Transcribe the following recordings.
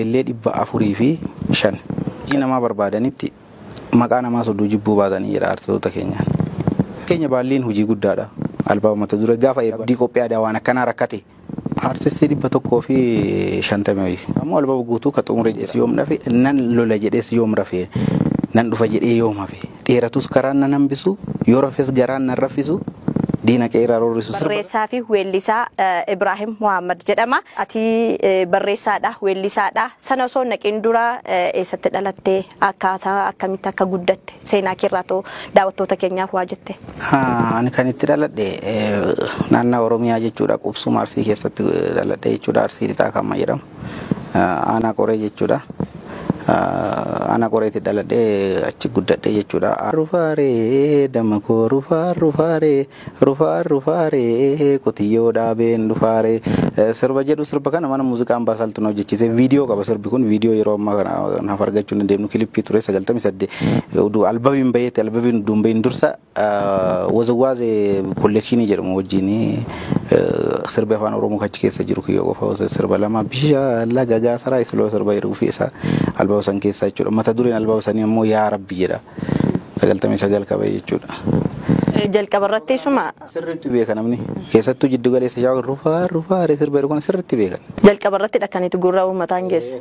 Ijoollee 405 hojii namaa barbaadanitti maqaa namaa sodduu jibbuu baatanii jedha artitoota keenyaan. Fakkeenya baalliin hojii guddaadha. Albama mata duree gaafa eebba abdii qophii aadaa waan akkanaa rakkate. Artistii 150 wayii. Ammoo albama guutuu ka xumure jedhes yoom dhafe nan lola jedhes yoom rafe nan dhufa jedhee yoom hafe. Dheeratus karaan nan hambisu, yoo rafes garaan nan raffisu, diina kee irraa roorrisu. Sirba. Barreessaa fi weellisaa Ibraahim Muhaammad jedhama. Ati barreessaadha, weellisaadha. Sana osoo hin dhaqiin dura eessatti dhalatte, akkaataa akkamitti akka guddatte seenaa kee irraa too daawwattoota keenyaaf waa jette. Ani kan itti dhaladhe naannaa Oromiyaa jechuudha. Qubsuma Arsii keessatti dhaladhe jechuudha. Arsii Lixaa kan amma jedhamu. Aanaa Qoree jechuudha. Aanaa Qoreetti dhaladhee achi guddadhe jechuudha. Rufaaree damma koo rufaa rufaaree rufaa rufaaree qotiyyoo dhaabeen dhufaaree sirba jedhu sirba kana mana muuziqaa ambaasaaltu na hojjechiise viidiyoo qaba sirbi kun viidiyoo yeroo ammaa kana naaf argachuu hin dandeenyu kilippii ture sagaltamii saddeet uduu albabiin baheetti albabiin uduun bahin dursa Woziwaazee kolleekshinii jedhamu wajjin sirbi afaan oromoo kachi keessa jiru kiyyoo qofa osoo sirba lama bisha laga gaasaraa isiloo sirba jedhu fi isa albama san keessaa jechuudha mata dureen albama sanii ammoo yaa rabbi jedha sagaltamii sagal qabee jechuudha. Jalqaba irratti isuma. Sirriitti beeka namni keessattuu jiddu galeessa shaawaa rufaa rufaa sirba jedhu kana sirriitti beekan. Jalqaba irratti dhakkan itti gurra uummataan geesse.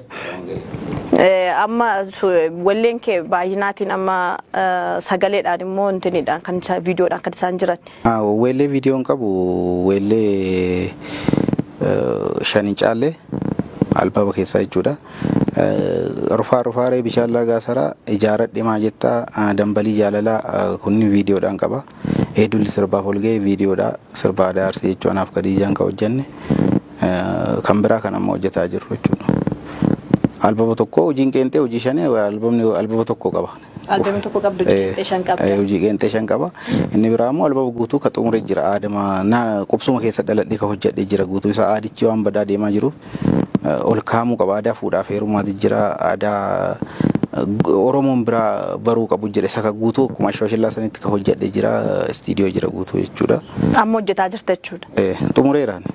Eh, amma su- walleen kee baay'inaatiin amma eh, sagaleedhaan immoo intiniidhaan kan isaan viidiyoodhaan kan isaan jiran Ah, Weellee viidiyoon qabu weellee eh, shan hin caalle albaaba keessaa jechuudha. Eh, Rufaa rufaaree bishaan laagaa saraa ijaaradhe maa jettaa ah, dambalii jaalalaa ah, kunni viidiyoodhaan qaba. Ee dulli sirbaaf ol ga'e viidiyoodha. Sirba aadaa Arsii jechuu anaaf Kadiijaan kan hojjenne. Kan biraa kan amma hojjetaa jirru jechuudha. Albama tokko hojiin qeenxee hojii shanee albamni albama tokko qaba. Albama tokko qabdu qeenxee shan qabda. Hojii qeenxee shan qaba. Inni biraa immoo albama guutuu ka xumure jira. Aadama na qubsuma keessa dhaladhee ka hojjedhe jira guutuu isaa aadichi waan badaa deemaa jiruuf. ol kaa'amuu qaba. Aadaa fuudhaaf heerumaati jira. Aadaa Oromoon biraa baruu qabu jira. Isa ka guutuu akkuma Ashwashillaa sanitti ka hojjadhe jira. Istiidiyoo jira guutuu jechuudha. Amma hojjetaa jirta jechuudha. Eh, Xumureera ani.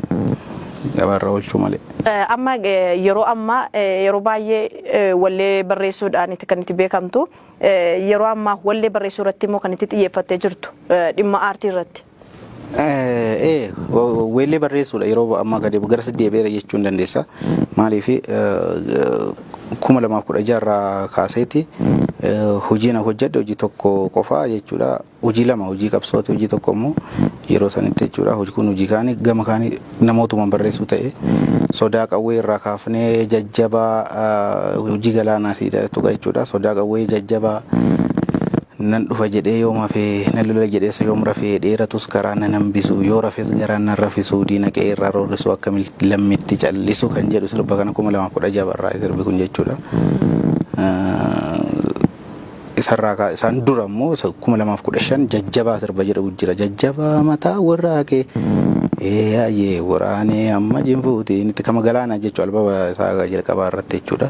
Gabaarra oolchuu malee. Eh, Amma eh, yeroo ammaa eh, yeroo baay'ee eh, wallee barreessuudhaan itti kan itti beekamtu eh, yeroo ammaa wallee barreessuu irratti immoo kan itti xiyyeeffattee jirtu eh, dhimma aartii irratti. Ee weellee barreessuudha yeroo ammaa gadi gara sadii deebi'eera jechuu hin dandeessa. Maaliif kuma lamaaf kudha jaha irraa kaaseeti hojiin hojjedhe hojii tokko qofaa jechuudha. Hojii lama hojii qabsooti hojii tokko immoo yeroo sanitti jechuudha hojii kun hojii kaanii gama kaanii namootumaan barreessuu ta'e sodaa qawwee irraa kaafnee jajjabaa hojii galaanaa siidatu jechuudha sodaa qawwee jajjabaa Nan dhufa jedhee yoom hafee Nan lola jedhes yoom rafee Dheeratus karaa nan hambisuu Yoo rafes garaan nan rafisuu Diina qe'ee irraa roorrisuu Akka lammitti callisu kan jedhu sirba kana 2016 barraa'e sirbi kun jechuudha. Isarraa isaan dura immoo 2015 jajjabaa sirba jedhu jira jajjabaa mataa warraa kee eeyyee waraanee amma jinfuutiin itti kama galaanaa jechuudha albaba isaa jalqabaa irratti jechuudha.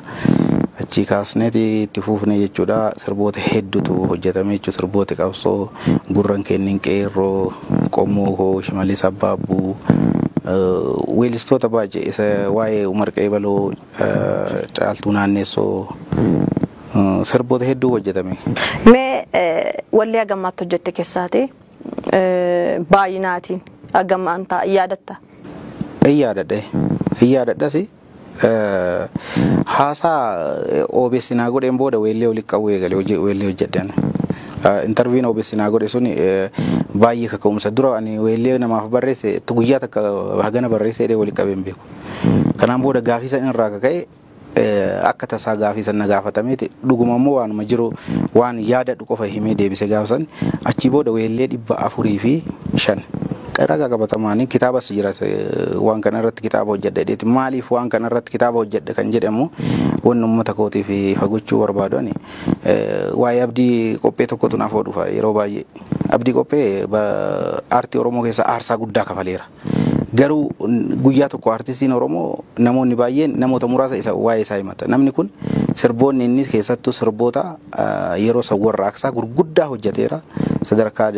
Achii kaasneeti itti fuufne jechuudha. Sirboota hedduutu hojjetame jechuudha. Sirbooti qabsoo gurran kennin qeerroo, qommoo koo, shimallis abbaabbuu, weellistoota baay'ee isa waa'ee Umar Qeebaloo, Caaltuu Naanneessoo sirboota hedduu hojjetame. Mee wallee haga ammaatti hojjette kessaati baay'inaatiin haga ammaantaa yaadatta? Hin yaadadha. Hin yaadadhasi. Haasaa OBS naa godheen booda weellee walitti qabuu eegale hojii weellee hojjedheen. Intarviin OBS naa godhe sun baay'ee kaka'umsa. Dura ani weellee namaaf barreesse itti guyyaa takka hagana barreesse jedhee walitti qabee hin beeku. Kanaan booda gaafii san irraa kaka'e akka tasaa gaafii san na gaafatameeti dhuguma immoo waanuma jiru waan yaadadhu qofa himee deebise gaafa san achii booda weellee dhibba afurii fi shan. Ragaa qabatamaa ani kitaabas jira waan kana irratti kitaaba hojjedha jedheeti. Maaliif waan kana irratti kitaaba hojjedha kan jedhe immoo wanni uummata kootiif ifa gochuu barbaadu ani waa'ee abdii qophee tokkotu naaf dhufa yeroo baay'ee. Abdii qophee aartii Oromoo keessaa aarsaa guddaa kafaleera. Garuu guyyaa tokko aartistiin Oromoo namoonni baay'een namoota muraasa isa waa'ee isaa himata. Namni kun sirboonni inni keessattuu sirboota Yeroo san warraaqsaa gurguddaa hojjateera. Sadarkaa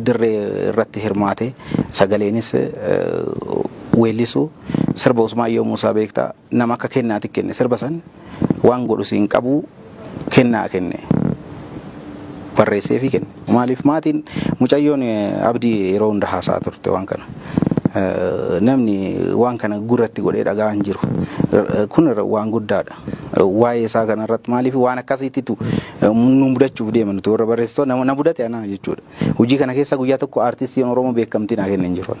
dirree irratti hirmaate sagaleenis weellisu. Sirba Usmaayyoo Muusaa beektaa? Nama akka kennaati kenne sirba san waan godhu siin qabu kennaa kenne. Barreesseefii kenne. Maaliif maatiin mucayyoon Abdii yeroo hunda haasa'a turte waan kana. Namni waan kana gurratti godhee dhaga'aa hin jiru. Kun waan guddaadha. waa'ee isaa kanarratti maaliif waan akkasiittitu nu mudachuuf deema nuti warra barreessitoota nama na mudate anaa jechuudha. Hojii kana keessa guyyaa tokko aartistiin Oromoo beekamtii naa kenna hin jiru.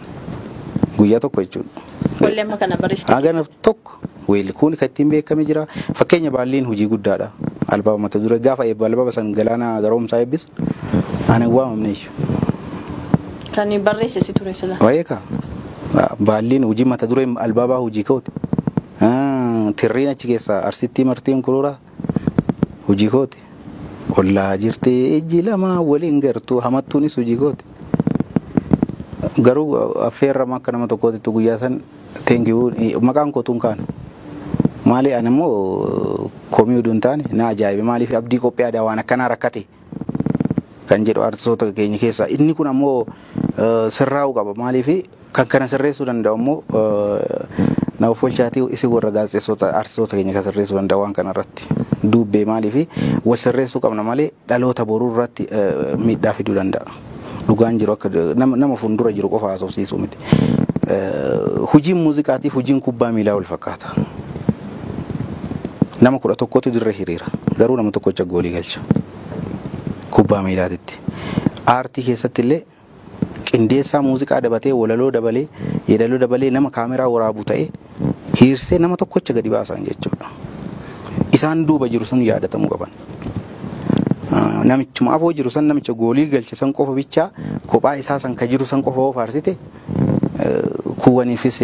Guyyaa tokko jechuudha. Wallee amma kana barreessitan. Hagana tokko weelli kun kan ittiin beekame jira. Fakkeenya baalliin hojii guddaadha. Albaaba mata duree gaafa eebba albaaba san galaana garoomsaa eebbisu ani hin waamamne jechuudha. Kan barreesse si ture sila. Waa'ee kaa baalliin hojii mata duree albaabaa hojii ka'uuti. Tirriin achi keessaa Arsittii martii unkurura hojii kooti. Ollaa jirtee ijji lamaa waliin gartuu hamattuunis hojii kooti. Garuu affeerrama akka nama tokkootitti guyyaa san teenkiyuu maqaan kootuun kaana. Maali ani immoo komii uduun taane na ajaa'ibe maaliif abdii qophii aadaa waan akkanaa rakkate. kan jedhu artistoota keenya keessaa inni kun ammoo sirraa'uu qaba maaliif kan kana sirreessuu danda'u ammoo na offolchaatii isin warra gaazexeessota artistoota keenya kan sirreessuu danda'u waan kana irratti duubbee maaliif wal sirreessuu qabna malee dhaloota boruu irratti miidhaa fiduu danda'a. Dhugaan jiru akka nama, nama fuuldura jiru qofa haasofsiisuu miti. Eh, Hojiin muuziqaatiif hojiin kubbaa miilaa wal fakkaata. Nama kudha tokkotu dirree hiriira. Garuu nama tokkocha goolii galcha. Kubbaa miilaatitti. Aartii keessatti illee qindeessaa muuziqaa dabatee walaloo dabalee yeedaloo dabalee nama kaameraa waraabu ta'ee hiirsee nama tokkocha gadi baasaan jechuudha. Isaan duuba jiru sun yaadatamuu qaban. Namichuma afoo jiru san namicha goolii galche san qofa bichaa kophaa isaa san ka jiru san qofa yoo faarsite kuuwwaniifis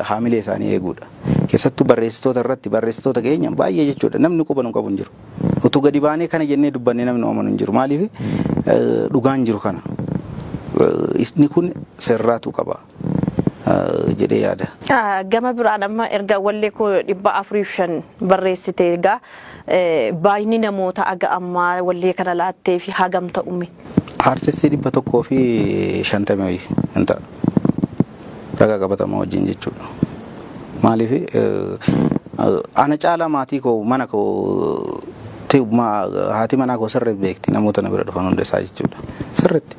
haamilee isaanii eeguudha. Keessattuu barreessitoota irratti barreessitoota keenya baay'ee jechuudha namni quba nu qabu hin jiru. Utuu gadi baanee kana jennee dubbannee namni amanu hin jiru. Maaliif dhugaan jiru kana. Isni kun sirraatu qaba. jedhee yaada. Gama biraan amma erga wallee koo dhibba afuriif shan barreessite egaa baay'inni namoota aga ammaa wallee kana laattee fi hagam ta'ume? Aartistii dhibba tokkoo fi shantamii ho'i hin ta'a. Ragaa qabatamaa wajjin jechuudha. Maaliif ana caalaa maatii koo mana koo haati manaa koo sirriitti beekti namoota na bira dhufan hunda isaa jechuudha. Sirriitti.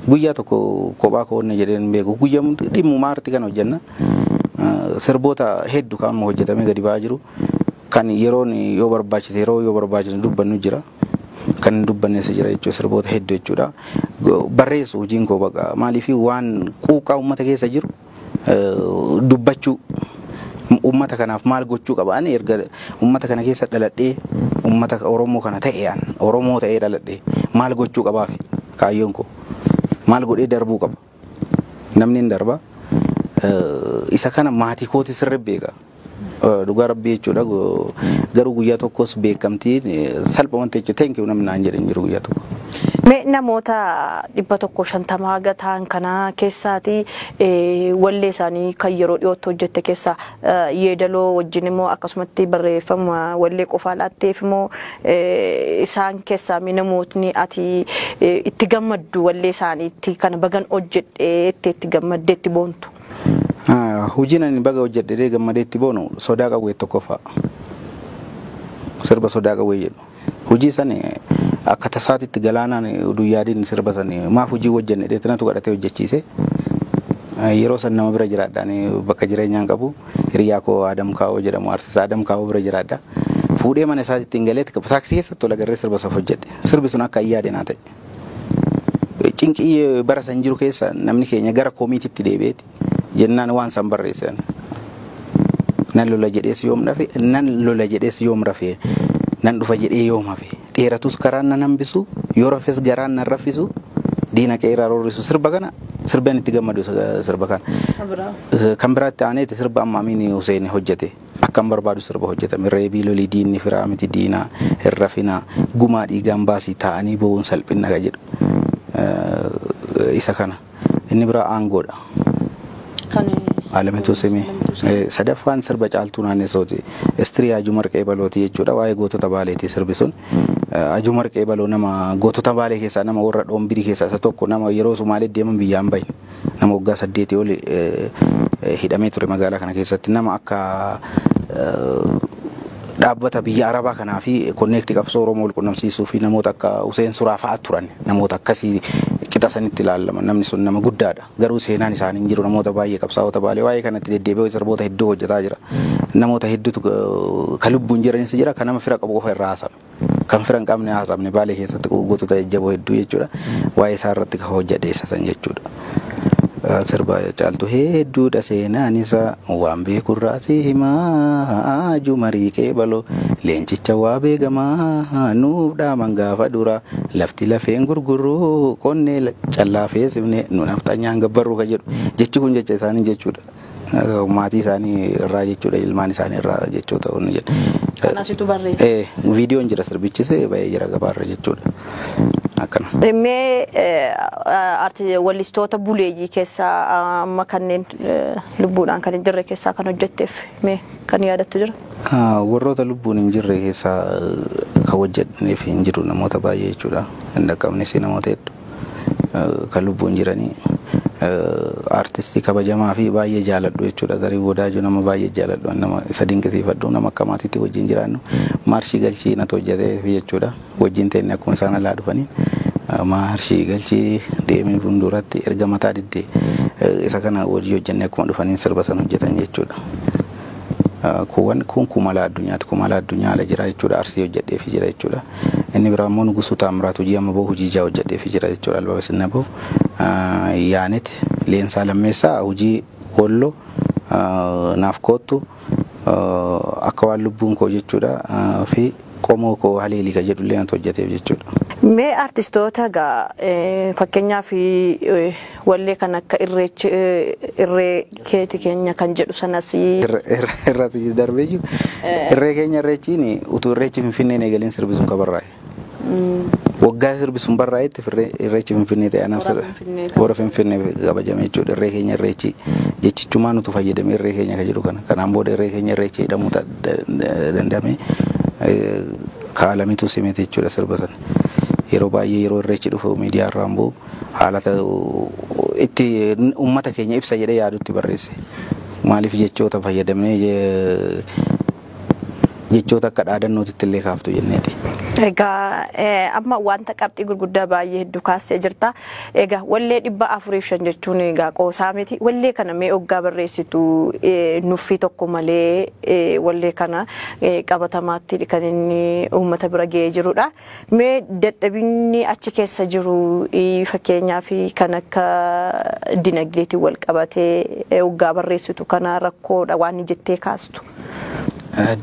Guyyaa tokko kophaa koo onnee jedheen hin beeku. Guyyaa hundi dhimmuma aartii kana hojjenna. Sirboota heddu kan amma hojjetamee gadi ba'aa jiru. Kan yeroon yoo barbaachise yeroo yoo barbaachise dubbannu jira. Kan hin dubbanneessa jira jechuudha sirboota heddu jechuudha. Barreessu hojiin koo baqa maaliif waan quuqqaa uummata keessa jiru dubbachuu ummata kanaaf maal gochuu qaba ani erga ummata kana keessa dhaladhee ummata Oromoo kana ta'e an Oromoo ta'ee dhaladhee maal gochuu qabaaf kaayyoon koo maal godhee darbuu qaba namni hin darba isa kana maatii kooti sirri beeka. Dhugaa rabbii jechuudha garuu guyyaa tokkos beekamtii salpha wanti jechuudha thank you namni naan jedhe hin jiru guyyaa tokko. Mee namoota dhibba tokko shantama haga ta'an kana keessaati wallee isaanii kan yeroo dhiyootti hojjette keessaa yeedaloo wajjin immoo akkasumatti barreeffama wallee qofaa laatteef immoo isaan keessaa mee namootni ati itti gammaddu wallee isaaniitti kana bagan hojjedhe itti itti gammadde itti boontu. Hujiin ani baga hojjedhe jedhee gammadee itti boonu sodaa qawweet tokkoffaa. Sirba sodaa qawwee jedhu. Hujii san akka tasaatitti galaanaan udu hin yaadin sirba san maaf hujii hojjenne jedhee tinatu kadhatee hojjechiise. Yeroo san nama bira jiraadha ani bakka jireenyaan qabu hiriyaa koo Adam Kaawoo jedhamu artist Adam Kaawoo bira jiraadha. Fuudhee mana isaatitti hin galee taaksii keessatti wal agarree sirba saf hojjedhe. Sirbi sun akka hin yaade naa ta'e. Cinqii bara san jiru keessa namni keenya gara komiititti deebi'eeti jennaan waan san barreessan. Nan lola jedhees yoom dhafe, nan lola jedhees yoom rafe, nan dhufa jedhee yoom hafe, dheeratus karaan nan hambisu, yoo rafes garaan nan raffisu, diina qe'eerraa roorrisu sirba kana sirbeen itti gammadu sirba kana. Kan biraatti aaneeti sirba amma Amiin Huseen hojjete. Akkan barbaadu sirba hojjetame. Reebii lolii diinni firaa miti diinaa hin rafinaa gumaa dhiigaan baasii taa'anii bowuun salphinna ka jedhu isa kana. Inni biraa aangoodha. Kan Alamituu Simee. Alamituu Simee. Eh, Sadaffaan sirba Caaltuu Naannesooti. Istirii Hajuu Marqee Balooti jechuudha. Waa'ee gootota Baaleeti sirbi sun. Eh, Hajuu Marqee Baloo nama gootota Baalee keessaa nama warra Dhoombirii keessaa isa tokko nama yeroo Sumaalee deeman biyyaan bahe. Nama waggaa saddeetii oli hidhamee ture magaalaa kana keessatti nama akka dhaabbata biyya Arabaa kanaa fi konneekti qabsoo Oromoo wal qunnamsiisuu fi namoota akka Huseen Suraa fa'a turan namoota akkasii qixa sanitti ilaalaman namni sun nama guddaadha garuu seenaan isaanii hin jiru namoota baay'ee qabsaa'ota baalee waa'ee kanatti deddeebi'ee sirboota hedduu hojjetaa jira namoota hedduutu ka lubbuun jiranis jira ka nama fira qabu qofa irraa haasa'an. Kan fira hin qabne haasa'amne Baalee keessatti guutuu ta'e jajjaboo hedduu jechuudha. Waa'ee isaa irratti kan hojjadhe isa san jechuudha. Sirba caaltu hedduudha seenaan isa waan beeku irraa si himaa jumarii qeebaloo leencicha waa beekamaa nuuf dhaaman gaafa duraa lafti lafeen gurguruu qonnee callaa feesifne nu nafxanyaan gabbarruu ka jedhu jechi kun jecha isaanii jechuudha. maatii isaanii irraa jechuudha ilmaan isaanii irraa jechuu ta'uu ni jedha. Kan asitu barreesse. Eh, viidiyoon jira sirbichis ba'ee jira gabaarra jechuudha. Akkana. Mee eh, arti wallistoota buleeyyii keessaa ah, amma kanneen eh, lubbuudhaan kan hin jirre keessaa kan hojjetteef mee kan yaadattu jira? Ah, Warroota lubbuun hin jirre keessaa eh, kan hojjetaniif hin jiru namoota baay'ee jechuudha. Hin dhaqqabnes namoota hedduu. kan lubbuun jiranii artistii kabajamaa fi baay'ee jaaladhu jechuudha. Zariin Wadaajoo nama baay'ee jaaladhu nama isa dinqisiifadhu nama akka maatiitti wajjin jiraannu maarshii galchii natu hojjetee fi jechuudha. Wajjin teenne akkuma isaan alaa dhufanii maarshii galchii deemee fuulduratti erga mataa diddee isa kana wajjin hojjennee akkuma dhufaniin sirba sana hojjetan jechuudha. Kuuwwan kun kumala addunyaati. Kumala addunyaa ala jira jechuudha. Arsii hojjedheefi jira jechuudha. Inni biraa immoo Nugusuu Taammiraat hojii amma bahu hojii ijaa hojjedheefi jira jechuudha. Albama sinna bahu. Yaanet Leensaa Lammeessaa hojii Wollo naaf koottu akka waan lubbuun koo jechuudha. Fi qomoo koo haleeli ka jedhullee natu hojjateef jechuudha. Mee artistoota egaa fakkeenyaaf wallee kan akka irreechi irree keeti keenya kan jedhu sanas. Irrati darbeeyyuu irree keenya irreechiin utuu irreechi finfinneen eegaleen sirbi sun ka barraa'e. Waggaa sirbi sun barraa'etti irreechi finfinnee ta'e anaaf hora finfinnee kabajame jechuudha irree keenya irreechi jechichumaan utuu fayyadamee irree keenya ka jedhu kana kanaan booda irree keenya irreechi jedhamu ta'a. danda'ame kaa'alametu simete jechuudha sirba sana. Yeroo baay'ee yeroo irreechi dhufu miidiyaa irraan bu'u haala itti uummata keenya ibsa jedhee yaadutti barreesse. Maaliif jechoota fayyadamee jechoota akka dhaadannootitti illee kaaftu jenneeti. Egaa amma wanta qabxii gurguddaa baay'ee hedduu kaastee jirta. Egaa wallee dhibba afuriif shan jechuun egaa qoosaa miti. Wallee kana mee oggaa barreessitu nuffii tokko malee wallee kana qabatamaatti kan inni uummata bira ga'ee jirudha. Mee dadhabinni achi keessa jiru fakkeenyaaf kan akka dinagdeetiin wal qabatee oggaa barreessitu kana rakkoodha waan jettee kaastu.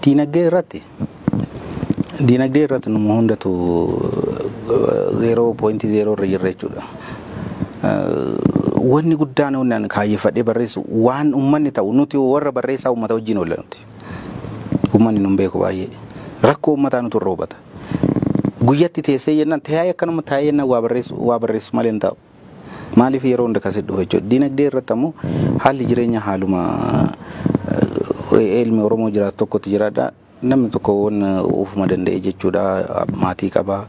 Dinagdee irratti Diinagdee irratti nu hundatu 0.0 irra jirra jechuudha. Wanni guddaan wanni ani kaayyeffadhee barreessu waan uummanni ta'u nuti warra barreessaa uummata wajjin oolla nuti. Uummanni nun beeku baay'ee. Rakkoo uummataa nutu irra hubata. Guyyatti teessee jennaan taa'ee akkanuma taa'ee jennaan waa barreessu waa barreessu malee hin taa'u. Maaliif yeroo hunda kan sitti dhufu jechuudha. Diinagdee irratti ammoo haalli jireenya haaluma ilmi Oromoo jiraatu tokkotti jiraadha. Namni tokko waan ofuma danda'e jechuudha. Maatii qaba.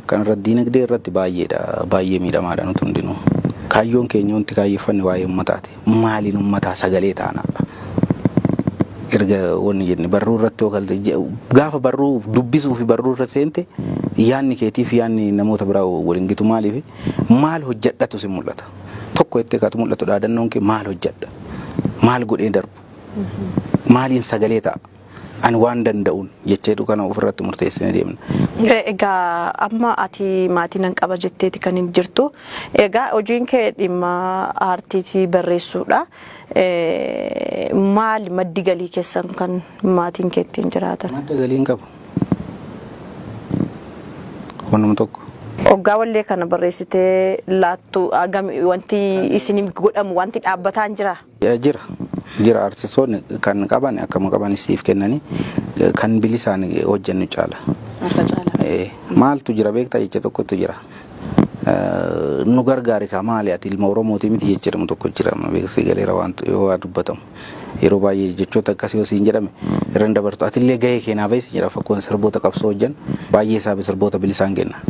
Kanarratti diinagdee irratti baay'eedha. Baay'ee miidhamaadha nuti hundinuu. Kaayyoon keenya wanti kaayyeffanne waa'ee ummataati. Maaliin ummataa sagalee taanaadha. Erga wanni jenne barruu irratti yoo kalte gaafa barruu dubbisuu fi barruu irra seente yaanni keetiif yaanni namoota biraa waliin gitu maaliif maal hojjadhatu si mul'ata? Tokko jettee kaatu mul'atu dhaadannoon kee maal hojjadha? Maal godhee darbu? Maaliin sagalee ta'a? Ani waan danda'uun jecheetu kana ofirratti murteessine deemna. E- Egaa amma ati maatii nan qaba jetteeti kan hin jirtu. Egaa hojiin kee dhimma aartiitii barreessuudha. Eh, Maali maddi galii keessan kan maatiin kee ittiin jiraatan? Madda galii hin qabu. Wanuma tokko. Oggaa wallee kana barreessitee laattu agam wanti isin godhamu wanti dhaabbataan jira. Eh, Jira. Jira artistoonni kan qaban akkuma qaban siif kennanii eh, kan bilisaan hojjennu caala. Harka caala. Eh, Maaltu jira beektaa jecha tokkotu jira. Eh, Nu gargaari kaa maali ati ilma Oromooti miti jecha jedhamu tokko jira. Beeksii galeera waan yoo waa dubbatamu. Yeroo baay'ee jechoota akkasii yoo siin jedhame irra hin dabartu. Atillee gahee kee naa bahi si jedha fakkoon sirboota qabsoo hojjan baay'ee isaa sirboota bilisaan kenna.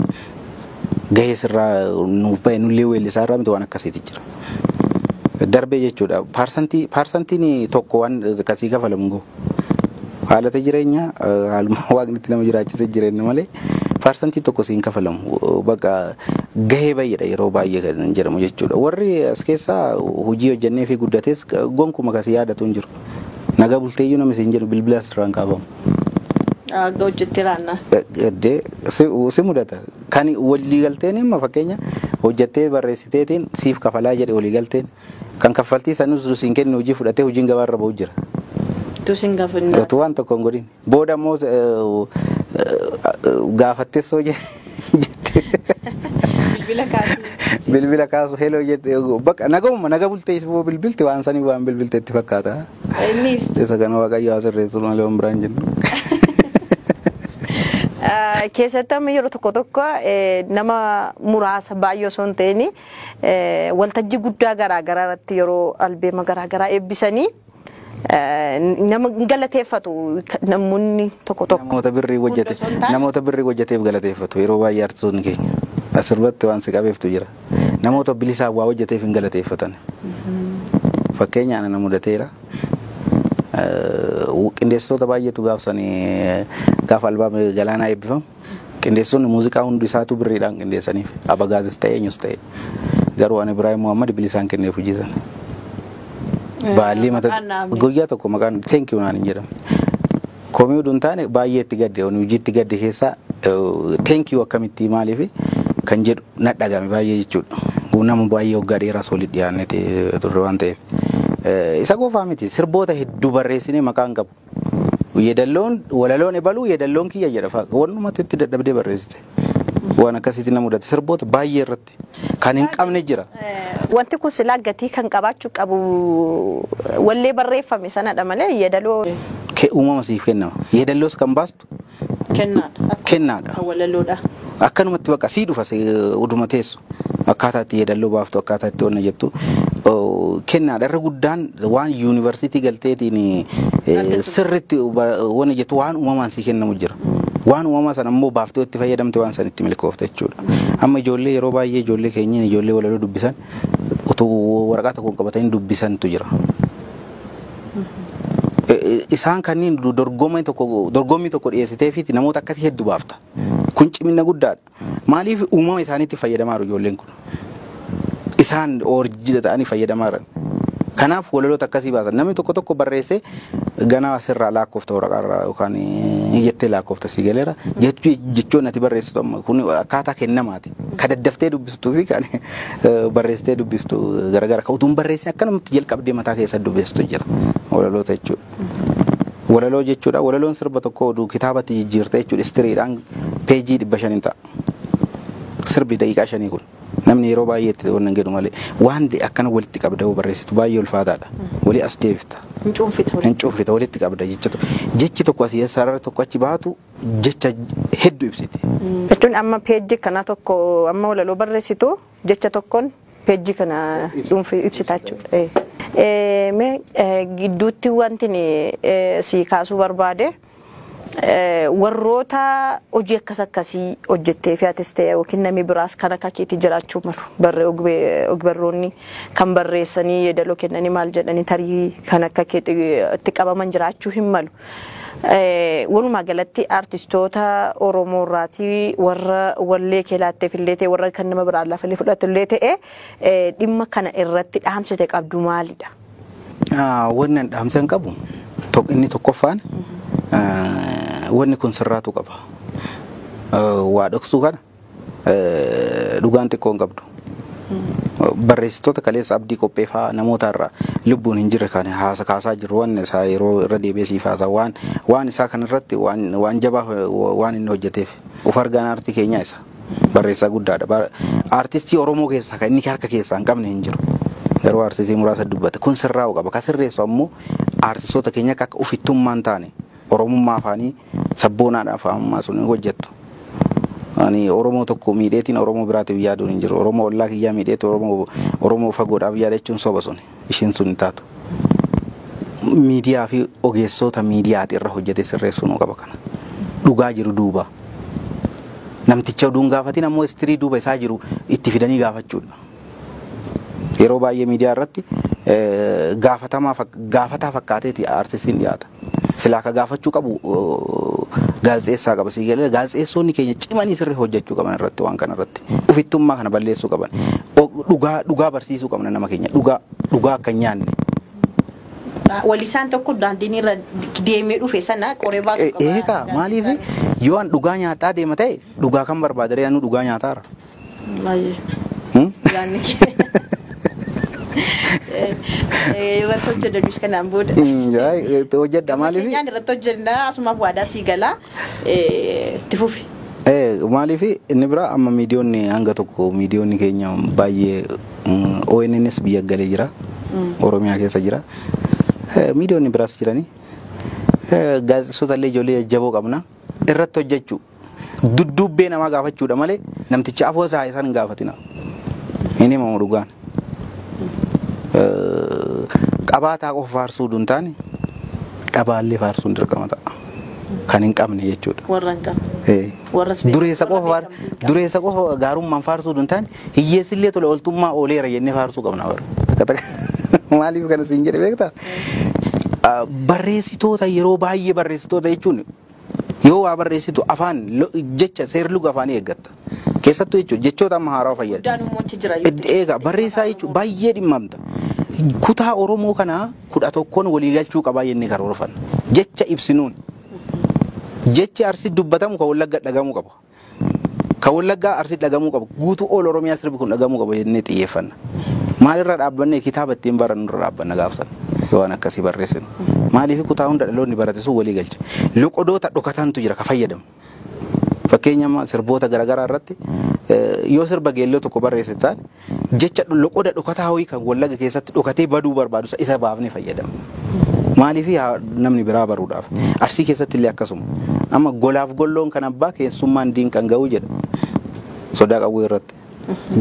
Gahee sirraa nuuf bahe nullee weellisaa irraa miti waan akkasiiti jira. Darbee jechuudha. Paarsantii paarsantiin tokko waan kasii kafalamu hin gahu. Haalata jireenyaa haaluma waaqni itti nama jiraachise jireenya malee Parsantii tokko siin kafalamu baqa gahee bayyedha yeroo baay'ee kan jedhamu jechuudha. Warri as keessaa hojii hojjannee fi guddates gonkuma kasi yaadatu hin jiru. Nagaa bulteeyyuu nama siin jedhu bilbila asirraan kaafamu. Akka hojjetti raanna. Gaddee si mudata. Kan walii galteen imma fakkeenya hojjattee barreessiteetiin siif kafalaa jedhe walii galteen kan kaffaltii sanus siin kennu hojii fudhatee hojiin gabaarra ba'u jira. Utuu siin gafinna. Utuu waan tokko hin godhin. Booda immoo gaafattee soo jette. Bilbila kaasuu. Bilbila kaasu heloo jette bakka nagahuma naga bultee isboo bilbilti waan sanii waan bilbilte itti fakkaata. Innis Isa kana waaqayyo haa sirreessu malee waan biraan jennu. Eh, keessatti amma yeroo tokko tokko eh, nama muraasa baay'ee osoo hin ta'in eh, waltajjii guddaa garaa garaa irratti yeroo albeema garaa garaa eebbisanii Nama hin galateeffatu namoonni tokko tokko. Namoota birrii hojjete Hunda osoo hin taane- namoota birrii hojjeteef galateeffatu yeroo baay'ee artistoonni keenya asirbatti waan si qabeeftu jira namoota bilisaa waa hojjeteef hin galateeffatan fakkeenya ana na mudateera Eh, qindeessitoota baay'eetu gaafsanii gaafa albaamni galaanaa eebbifamu Qindeessitoonni muuziqaa hundi isaatuu birriidhaan qindeessaniif. Abagaazis ta'e eenyus ta'e. Garuu an Ibraahim Muhammad bilisaan kenneef hojii sana. Baallii mata Maqaan naaf ni- guyyaa tokko maqaan thank you naan hin jedhamu. Komii utuu hin taane baay'ee itti gadde ani hojii itti gadde keessaa eh, thank you akkamitti maaliif kan jedhu na dhagame baay'ee jechuudha. Nama baay'ee waggaa dheeraas walitti dhiyaannee turre waan ta'eef. Eh, Isa qofaa miti sirboota hedduu barreessinee maqaan qabu. Yedalloon walaloon ebaluu yedalloon kiyya jedha fa'a wannumatti itti dadhabdee barreessite waan akkasiitti na mudate sirboota baay'ee irratti kan hin qabne jira. Wanti kun silaa gatii kan qabaachuu qabu wallee barreeffame sanadha malee yedaloo. Kee uumama siif kennama. Yedalloos kan baastu Kennaadha. Akkuma Kennaadha. Kan walaloodha. Akkanumatti bakka sii dhufa si- uduma teessu akkaataa itti yeedalloo baaftu akkaataa itti onna jettu oo, kennaadha irra guddaan waan yuunivarsiitii galteetiin eh, Argatu. sirritti ba- wanni jettu waan uumamaan sii kennamu jira. Waan uumamaa sana immoo baaftee itti fayyadamte waan san itti milkoofte jechuudha. Amma ijoollee yeroo baay'ee ijoollee keenyaan ijoollee walaloo dubbisan utuu waraqaa tokkoon qabatanii dubbisantu jira. Isaan kanniin dorgommii tokko dorgommii tokko dhiyeessiteefiiti namoota akkasii heddu baafta. Kun cimina guddaadha. Maaliif uumama isaaniitti fayyadamaa jiru ijoolleen kun? Isaan oorjida ta'anii fayyadamaa jiran. Kanaaf walaloota akkasii baasan. Namni tokko tokko barreessee ganaa asirraa laakkoofta waraqaarraa yookaan jettee laakkoofta sii galeera. Jechoonni ati barreessitu amma kun akkaataa kennamaati. Ka daddaftee dubbiftuu fi kan barreessitee dubbiftu garagara. Ka utuun barreessin akkanumatti jalqabdee mataa keessa dubbiftu jira. Walaloota jechuudha. Walaloo jechuudha. Walaloon sirba tokko oduu kitaabatti jijjiirte jechuudha. Istiriidhaan peejii dhibba shan hin ta'a. Sirbi daqiiqaa shanii kun. Namni yeroo baay'ee itti waan hin jedhu malee waan akkana walitti qabda yoo barreessitu baay'ee ulfaataadha. Walii as deebifta. Hin cuunfita. Hin cuunfita walitti qabda jechuudha. Jechi tokko asii sarara tokko achi baatu jecha heddu ibsiti. Jechuun amma peejji kana tokko amma walaloo barreessitu jecha tokkoon peejji kana dhuunfi ibsita jechuudha. Eh, Mee eh, gidduutti wanti ni, eh, si kaasuu barbaade eh, warroota hojii akkas akkasii hojjettee fi atis ta'e yookiin namni biraas kan akka keetii jiraachuu malu barree ogbe- ogbarroonni kan barreessanii yeedaloo kennanii maal jedhanii tarii kan akka keetii itti qabaman jiraachuu hin malu. Walumaa galatti artistoota Oromoo irraatii warra wallee kee laatteef illee ta'e warra kan nama biraa lafa illee fudhatu illee ta'e dhimma kana irratti dhaamsite qabdu maalidha? Wanni an dhaamsan qabu inni tokkoffaan wanni kun sirraatu qaba. Waa dhoksuu kana Dhugaan xiqqoo hin qabdu. Barreessitoota kaleessa abdii qophee fa'aa namoota irraa lubbuun hin jirre kan haasa kaasaa jiru waan isaa yeroo irra deebi'ee siif haasa waan waan isaa kan irratti waan waan jabaa waan inni hojjeteef of argaan aartii keenyaa isa barreessaa guddaadha. Ba- Aartistii Oromoo keessaa kan inni harka keessaa hin qabne hin jiru. Yeroo aartistii muraasa dubbate kun sirraa'u qaba. Kan sirreessu ammoo aartistoota keenya akka akka ofittummaan taane Oromummaa afaanii Sabboonaadha faamummaa sun hin hojjattu. Ani Oromoo tokko miidheetiin Oromoo biraatiif yaaduun hin jiru. Oromoo ollaa kiyyaa miidheetu Oromoo Oromoo fagoodhaaf yaada jechuun soba sun. Ishiin sun hin taatu. Miidiyaa fi ogeessoota miidiyaati irra hojjete sirreessuu nu qaba kana. Dhugaa jiru duuba. Namticha oduun gaafatiin ammoo istirii duuba isaa jiru itti fidanii gaafachuudha. Yeroo baay'ee miidiyaa irratti gaafataa fakkaateeti artistiin dhiyaata. Silaa ka gaafachuu qabu gaazexeessaa qaba sii galee gaazexeessoonni keenya cimanii sirrii hojjechuu qaban irratti waan kana irratti ufittummaa kana balleessuu qaban dhugaa dhugaa barsiisuu qabna nama keenya dhugaa dhugaa akka hin nyaanne. Walisaan tokko daandiin irra deemee dhufe sana qoree baasuu qaba. Eegaa maaliif yoo an dhugaa nyaataa deema ta'e dhugaa kan barbaadare anu dhugaa nyaataara. Baay'ee. Yaanni kee. Eh, Irratti hojjedha dus kanaan booda. Mm, yaa, eh, hojjedha maaliif Keenyaan irratti hojjenna asumaaf waadaa sii galaa eh, itti fufi. Eh, maaliif inni biraa amma miidiyoonni hanga tokko miidiyoonni keenya baay'ee mm, ONNs biyya galee jira Oromiyaa keessa jira Eh, miidiyoonni biraas jiranii Eh, gaazexeessota illee ijoollee jajjaboo qabna irratti hojjechuu Dudduubbee namaa gaafachuudha malee namticha afoo isaa isaan hin gaafatina. Hin himamu dhugaan. Eh, Qabaataa qofa faarsuu utuu hin taane dhabaallee faarsuun dirqama ta'a. Kan hin qabne jechuudha. Warra hin qabne. Eh. Warras beekamu, Dureessa warra qofa faar- beekamu hin qabne. dureessa qofa gaarummaan faarsuu utuu hin taane hiyyeessi illee tola ooltummaa ooleera jennee faarsuu qabna bara. Takka takka. Maaliif kana siin jedhe beektaa? Ah, Barreessitoota yeroo baay'ee barreessitoota jechuun Yoo waa barreessitu afaan, lo, jecha, seerluga afaanii eeggatta. Keessattuu jechuudha. Jechoota amma haarawa fayyadami. guddaan immoo achi jira yoo Ed- xiqqeesse Eegaa barreessaa jechuun Oromoo. baay'ee dhimmamta. Kutaa Oromoo kana kudha tokkoon walii galchuu qabaa jennee karoorfanna. Jecha ibsinuun. Jechi Arsi dubbatamu kan Wallagga dhagahamuu qaba. Kan Wallaggaa Arsiitti dhagamuu qaba. Guutuu All Oromiyaa sirbi kun dhagamuu qaba jennee xiyyeeffanna. Maalirra dhaabbannee kitaaba ittiin barannurra dhaabbanna gaafa sana. Yoo waan akkasii barreessinu. Maaliif kutaa hunda dhaloonni barate sun walii galcha. Loqodoota dhokatantu jira ka fayyadamu. Fakkeenya amma sirboota garaagaraa irratti yoo sirba geelloo tokko barreessite taate Jecha loqoda dhokataa ho'i kan wallaga keessatti dhokatee baduu barbaadu sa- isa baafnee fayyadamna. Maaliif haa namni biraa baruudhaaf. Arsii keessatti illee akkasuma. Amma golaaf golloon kan abbaa keessummaan diin kan ga'u jedha. Sodaa qawwee irratti.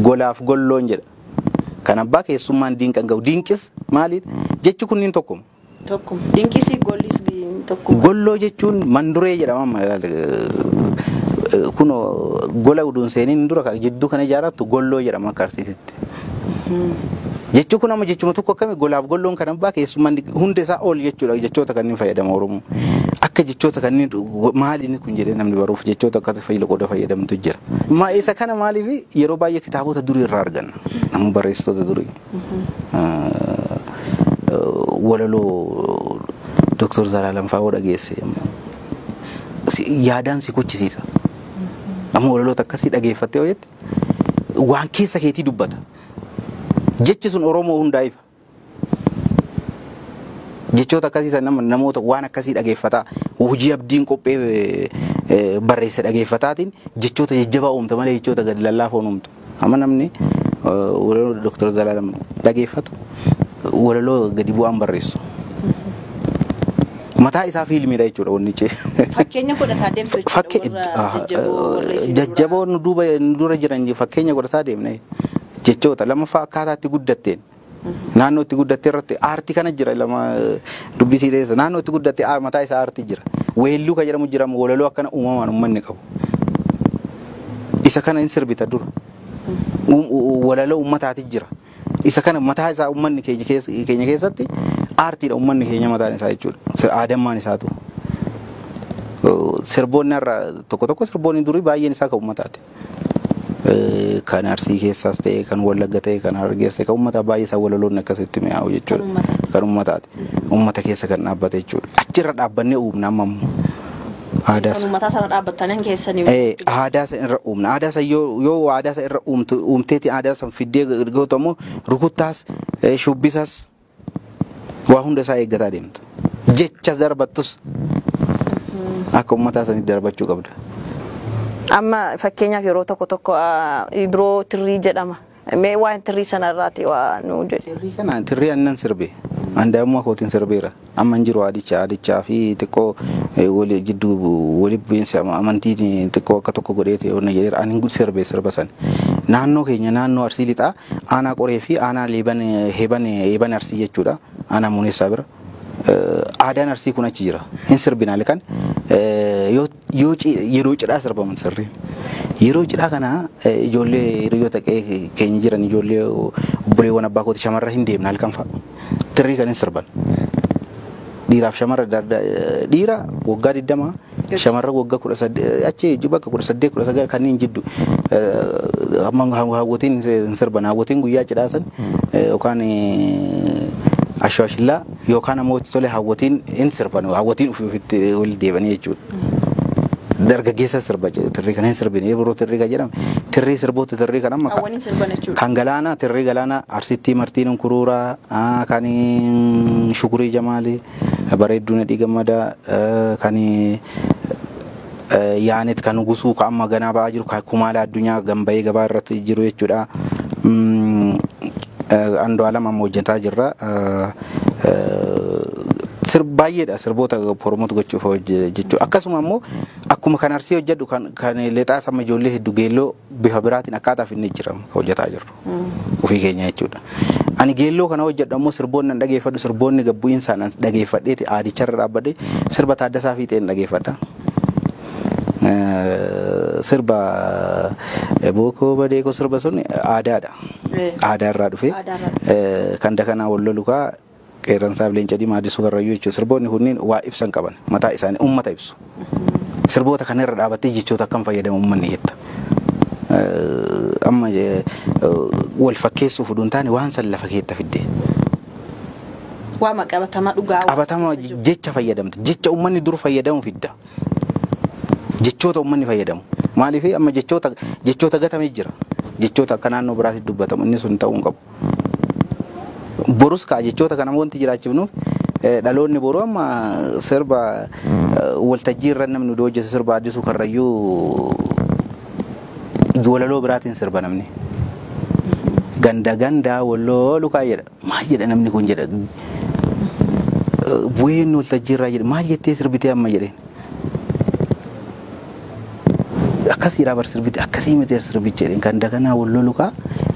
Golaaf golloon jedha. Kan abbaa keessummaan diin kan ga'u. Diinqis maaliin? Jechi kunniin tokkuma. tokko. Dinqisi gollis tokko. Golloo jechuun manduree jedhama amma ilaali. Eh, Kuno gola uduun seeniin dura ka- jidduu kana ijaarrattu golloo jedhama akka arsiititti. Jechuun kun amma jechuma tokko akkami golaaf golloon kan abbaa keessummaa inni hunda isaa ol jechuudha jechoota kanneen fayyadama Oromoo. Akka jechoota kanneen go- maali inni kun jedhee namni baruuf jechoota akka fayyada qooda fayyadamtu jira. Ma isa kana maaliif yeroo baay'ee kitaabota durii irraa arganna. Namni barreessitoota durii. Walaloo Doktar Zalaalam fa'aa yoo dhageesse yaadaan si kuchisiisa. Amma walaloota akkasii dhageeffattee yoo jette waan keessa keetii dubbata. Jechi sun Oromoo hundaa ifa. Jechoota akkasii san nama namoota waan akkasii dhageeffataa hojii abdiin qophee barreesse dhageeffataatiin jechoota jajjabaa uumta malee jechoota gad lallaafoo hin uumtu. Amma namni walaloo Dooktar Zalaalam dhageeffatu walaloo gadi bu'aan barreessu. Mataa isaa fiilmiidha jechuudha wanni cee. Fakkeenya godhataa deemtu jechuudha. Jajjaboo nu duuba nu dura jiran fakkeenya godhataa deemne jechoota lammaffaa akkaataa itti guddatteen. Naannoo itti guddatte irratti aartii kana jira lama dubbii sii dheessa. Naannoo itti guddatte aar- mataa isaa aartii jira. Weelluu kan jedhamu jira walaloo akkana uumamaan uummanni qabu. Isa kana hin sirbita dura. Uum- u- Walaloo uummataati jira. Isa kana mataa isaa uummanni keenya keessa- keenya keessatti aartiidha uummanni keenya mataan isaa jechuudha. Sir- Aadammaan isaatu. Sirboonni har'a tokko tokko sirboonni durii baay'een isaa kan uummataati. kan arsii keessaas ta'e kan wallagga ta'e kan harargees ta'e kan uummataa baay'ee isaa walaloonni akkasitti mi'aawu jechuudha. Kan uummataati. Uummata keessa kan dhaabbate jechuudha. Achirra dhaabbannee uumna amma ammoo. Aadaa Kan uummataa sana dhaabbattanan keessanii. Eh, aadaa san irra uumna. Aadaa san yoo yoo aadaa san irra uumtu uumteeti aadaa san fiddee gootu ammoo rukuttaas eh, shubbisas Waa hunda isaa eeggataa deemta. Jechas darbattus akka ummataa sanitti darbachuu qabda. Amma fakkeenyaaf yeroo tokko tokko ah, ibroo tirrii jedhama. Mee waan tirrii sana irraati waa nuu jedhe. Tirrii kana tirrii annan sirbe. An daa'imummaa kootiin sirbeera. Amma hin jiru aadicha aadichaa fi xiqqoo eh, wali jidduu wali bu'iinsi ama- amantii xiqqoo akka tokko godhee ta'e onna jedheera. An hin sirbe sirba sana. Naannoo keenya naannoo Arsii Lixaa Aanaa Qoree fi Aanaa Liiban Heeban Eeban Arsii jechuudha. Aanaa Muuneessaa bira. Aadaan Arsii kun achi jira. Hin sirbin halkan yeroo cidhaa sirbaman sirriin. Yeroo cidhaa kana ijoollee hiriyoota keenya jiran ijoollee obboleewwan abbaa kooti shamarra hin deemna halkan fa'a. Tirrii kan hin sirban. Dhiiraaf shamarra dhiira waggaa 20 Shamarran wagga 18 achi jiddu bakka 18 19 kanniin jiddu amma hawwatiin hin sirban hawwatiin guyyaa cidhaa san yookaan ashwaashillaa yookaan ammoo itti tole hawwatiin hin sirban hawwatiin ofii ofitti wal deebanii jechuudha. Dargaggeessa sirba tirrii kana hin sirbine yeroo tirrii kan jedhame tirrii sirboota tirrii kan amma Hawwan hin sirban jechuudha. kan galaanaa tirrii galaanaa arsittii martiin kuruuraa kan shukurii jamaalii Bareedduu nadhii gammadaa kan yaanet kan gusuu ka amma ganaa ba'aa jiru ka kumaala addunyaa gan ba'ee gabaa irratti jiru jechuudha. Andu'aalam amma hojjetaa jirra. Sir baay'eedha sirboota promote gochuuf hojjechu. Akkasuma immoo akkuma kan arsii hojjedhu kan kan lexaas amma ijoollee heddu geelloo bifa biraatiin akkaataa finne jira hojjetaa jirru. ofii keenyaa jechuudha. Ani geelloo kana hojjedhu ammoo sirboonni an dhageeffadhu sirboonni gabbu'iinsaan an dhageeffadheeti aadicharra dhaabbadhe sirba Taaddasaa Fiixeen dhageeffadha. Sirba bookoo badeekoo sirba sun aadaadha. Aadaarraa dhufe kan dakanaa wal lolu kaa Qeerransaaf Leenca Diimaa Addisuu Karrayyuu jechuudha. Sirboonni kunniin waa ibsan qaban. Mataa isaanii ummata ibsu. Sirboota kana irra dhaabattee jechoota akkam fayyadama ummanni jetta. Amma wal fakkeessuuf utuu hin taane waan san lafa keetta fidde. Waama qabatamaa dhugaa. Qabatama jecha fayyadamte. Jecha ummanni dur fayyadamu fidda. Jechoota ummanni fayyadamu. Maaliif amma jechoota jechoota gatame jira. Jechoota akka naannoo biraatti dubbatamu inni sun ta'uu hin qabu. borus kaa jechoota kana wanti jiraachifnuuf eh, dhaloonni boruu amma sirba eh, waltajjii irra namni oduu hojjetu sirba addisuu karrayyuu walaloo biraatiin sirba namni. Ganda gandaa walloo lukaa jedha. Maal jedha namni kun jedha. Eh, Bu'een waltajjii irraa jedha. Maal jettee sirbitee amma jedheen. akkasii raabar sirbiti akkasii miti sirbicha jedheen kan daganaa wal lolu kaa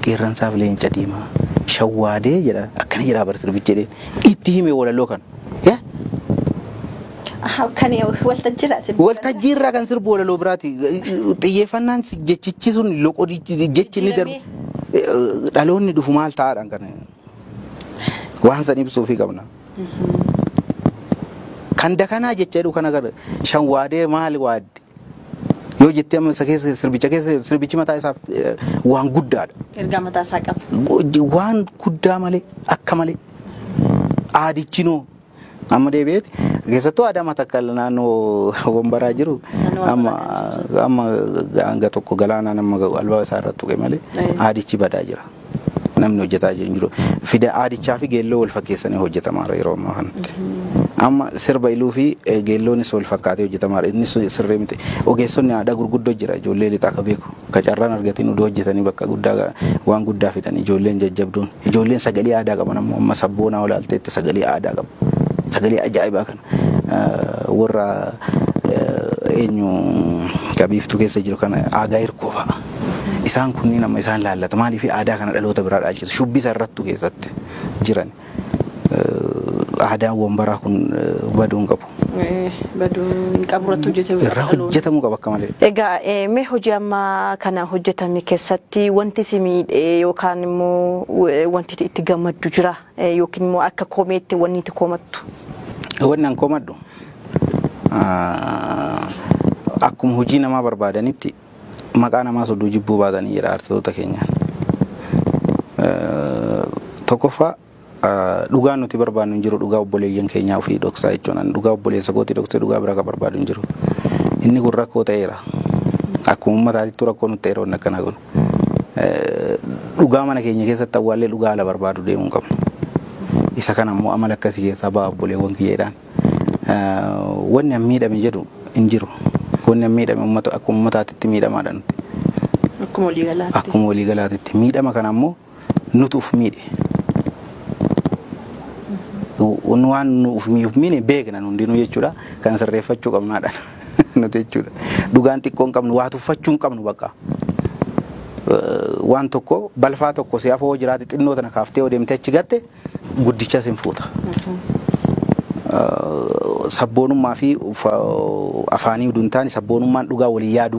qeerransaaf leenca diimaa shawwaadee jedha akkana jedha raabar sirbicha jedheen itti hime walaloo kan yaa Ahaa, Kan waltajjiirraa sirbi. waltajjii irraa kan sirbu walaloo biraati xiyyeeffannaan si- jechichi sun loqodichi jechi inni darbu dhaloonni dhufu maal ta'aadhaan kana Waan san ibsuufii qabna. Kan dakanaa jecha jedhu kana gara shan waadee maali waadde? Yoo jettee amma isa keessa sirbicha keessa sirbichi mataa isaaf eh, waan guddaadha. Ergaa mataa isaa qaba. Waan guddaa malee akka malee aadichinoo Amma deebi'eeti. Keessattuu aadaa matakkal naannoo wambaraa jiru amma amma hanga tokko galaanaan amma albaa isaa irratti tuqe malee aadichi badaa jira. Namni hojjetaa jiru jiru. Fida aadichaa fi geelloo wal fakkeessanii hojjetamaa jira yeroo ammaa kanatti. Amma sirba iluu fi geelloonis wal fakkaatee hojjetamaa jira. Innis sirrii miti. Ogeessonni aadaa gurguddoo jira ijoollee lixaa akka beeku. Ka carraan argatiin oduu hojjetanii bakka guddaa waan guddaa fidan ijoolleen jajjabduun. Ijoolleen sagalee aadaa qaban ammoo amma sabboonaa yoo ilaalteetti sagalee aadaa qabu. Sagalee ajaa'ibaa kana warra eenyu qabiiftuu keessa jiru kana aagaa hirkoo fa'a. Isaan kunniin amma isaan laallata. Maaliif aadaa kana dhaloota biraa dhaalchisu? Shubbisa irrattuu keessatti jiran. Aadaan wambaraa kun baduu hin qabu. Eh, Baduu hin qabu irratti hojjetamuu irraa qaba. hojjetamuu qaba akka malee. Egaa eh, mee hojii amma kana hojjetame keessatti wanti si miidhe yookaan immoo eh, wanti itti- itti gammaddu jira Eh, yookiin immoo akka komeetti wanni itti komattu. Wanni an komadhu ah, akkuma hojii namaa barbaadanitti maqaa namaa sodduu jibbuu baatanii jedha artistoota keenya. Eh, Tokkoffaa Dhugaan nuti barbaannu hin jiru dhugaa obboleeyyan keenyaa ofii dhoksaa jechuun ani dhugaa obboleessa kootii dhoksee dhugaa biraa kan barbaadu hin jiru. Inni kun rakkoo ta'eera. Akkuma uummataatittu rakkoo nutti ta'eera wanni akkanaa kun. Dhugaa mana keenya keessatti awwaallee dhugaa ala barbaadu deemuu hin qabnu. Isa kana immoo amala akkasii keessaa ba'a obboleewwan kiyya jedhaan. Wanni an miidhame jedhu hin jiru. Wanni an miidhame uummata akkuma uummataatitti miidhamaadha nuti. Akkuma waliigalaatti. Akkuma waliigalaatitti. Miidhama kana immoo nutu uf miidhe. Nu- Waan nu uf mi- uf miine beekna nu hundinuu jechuudha. Kana sirreeffachuu qabnaadha nuti jechuudha. Dhugaan xiqqoo hin qabnu, waa tuffachuu hin qabnu bakka. Eh, Waan tokko balfaa tokko si afoo jiraate xinnoo tana kaaftee yoo deemtee achi gatte guddichas hin fuuta. Eh, Sabboonummaa fi ufa- afaanii uduun taane sabboonummaan dhugaa walii yaaduu.